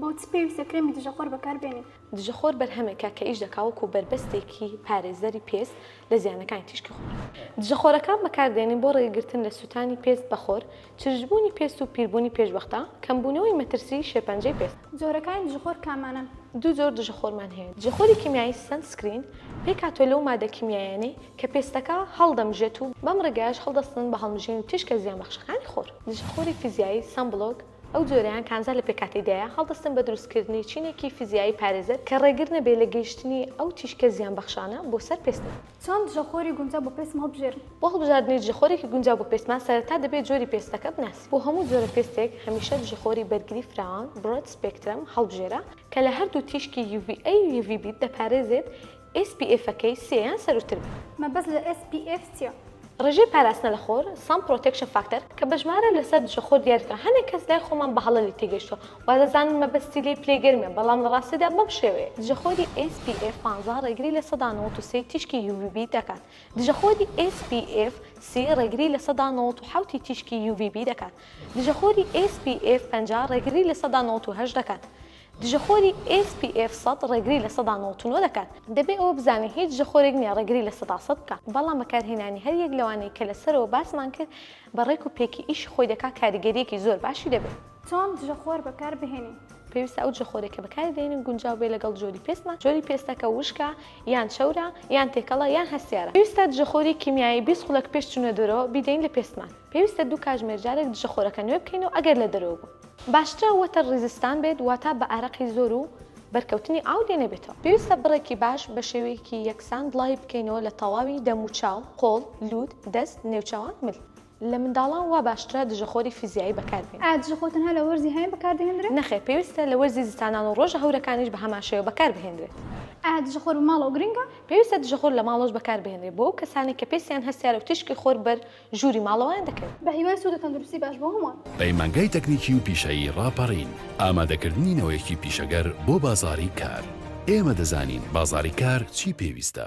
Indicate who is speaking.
Speaker 1: بۆچی پێویستە کرێمی دژەخۆر بەکاربێنین؟ دژەخۆر بەرهەمێکە کە ئیش دەکا وەکو بەربەستێکی پارێزەری پێست لە زیانەکانی تیشکی خۆر. دژەخۆرەکان بەکاردێنین بۆ ڕێگرتن لە سووتانی پێست بە خۆر، چرچبوونی پێست و پیربوونی پێش بەختا، کەمبوونەوەی مەترسیی شێرپەنجەی پێست. جۆرەکانی دژەخۆر کامانەن؟ دوو جۆر دژەخۆرمان هەیە، دژەخۆری کیمیایی، Sunscreen، پێکهاتووە لەو مادە کیمیاییانەی کە پێستەکە هەڵدەمژێت و بەم ڕێگایەش هەڵدەستن بە هەڵمژینی تیشکە زیانبەخشەکانی خۆر. دژەخۆری فیزیایی، Sunblock، ئەو جۆرەیان کانزا لە پێکهاتەی دایە، هەڵدەستن بە دروستکردنی چینێکی فیزیایی پارێزەر کە ڕێگر نەبێت لە گەیشتنی ئەو تیشکە زیانبەخشانە بۆ سەر پێستمان. چۆن دژەخۆری گونجاو بۆ پێستم هەڵبژێرم؟ بۆ هەڵبژاردنی دژەخۆرێکی گونجاو بۆ پێستمان سەرەتا دەبێت جۆری پێستەکە بناسین. بۆ هەموو جۆرە پێستێک هەمیشە دژەخۆری بەرگری فراوان، Broad Spectrum، هەڵبژێرە کە لە هەردوو تیشکی UVA و UVB دەپارێزێت SPF ەکەی سێ یان سەرووتر بێت. مەبەست لە SPF چییە؟ ڕێژەی پاراستنە لە خۆر، Sun Protection Factor، کە بە ژمارە لەسەر دژەخۆر دیاریکراوە هەنێک کەس لای خۆمان بە هەڵە لێی تێگەیشتووە، وادەزانن مەبەستی لێی پلەی گەرمە بەڵام لە ڕاستیدا بەم شێوەیە، دژەخۆری ئێس پی ئێف پانزە ڕێگری لە سەدا نەوەد و سێی تیشکی یو ڤی بی دەکات، دژەخۆری ئێس پی ئێف سی ڕێگری لە سەدا نەوەد و حەوتی تیشکی یو ڤی بی دەکات، دژەخۆری ئێس پی ئێف پەنجا ڕێگری لە سەدا نەوەد و هەشت دەکات، دژەخۆری ئێس پی ئێف سەد ڕێگری لە سەدا نەوەد و نۆ دەکات. دەبێ ئەوە بزانین هیچ دژەخۆرێک نییە ڕێگری لە سەدا سەد بکات، بەڵام بەکارهێنانی هەر یەک لەوانەی کە لە سەرەوە باسمان کرد بە ڕێک و پێکی ئیشی خۆی دەکات کاریگەرییەکی زۆر باشی دەبێت. چۆن دژەخۆر بەکار بهێنین؟ پێویستە ئەو دژەخۆرەی کە بەکاری دەهێنین گونجاو بێت لەگەڵ جۆری پێستمان، جۆری پێستەکە وشکە یان چەورە یان تێکەڵە یان هەستیارە، پێویستە دژەخۆری کیمیایی بیست خولەک پێش چوونە دەرەوە بیدەین لە پێستمان، پێویستە دوو کاتژمێر جارێک دژەخۆرەکە نوێ بکەینەوە ئەگەر لە دەرەوە بوو، باشترە وەتەر ڕیزستان بێت واتە بە ئارەقی زۆر و بەرکەوتنی ئاو لێ نەبێتەوە، پێویستە بڕێکی باش بە شێوەیەکی یەکسان بڵاوی بکەینەوە لە تەواوی دەم و چاو، قۆڵ، لووت، دەست، نێوچاوان، مل. لە منداڵان وا باشترە دژەخۆری فیزیایی بەکاربێنی. ئایا دژەخۆر تەنها لە وەرزی هاوین بەکاردەهێندرێت؟ نەخێر، پێویستە لە وەرزی زستانان و ڕۆژە هەورەکانیش بەهەمان شێوە بەکاربهێندرێت. ئایا دژەخۆر بە ماڵەوە گرنگە؟ پێویستە دژەخۆر لە ماڵەوەش بەکاربهێنرێت بۆ ئەو کەسانەی کە پێستیان هەستیارە و تیشکی خۆر بەر ژووری ماڵەوەیان دەکەوێت. بەهیوای سوود و تەندروستی باش بۆ هەمووان. پەیمانگای تەکنیکی و پیشەیی ڕاپەڕین، ئامادەکردنی نەوەیەکی پیشەگەر بۆ بازاڕی کار. ئێمە دەزانین بازاڕی کار چی پێویستە.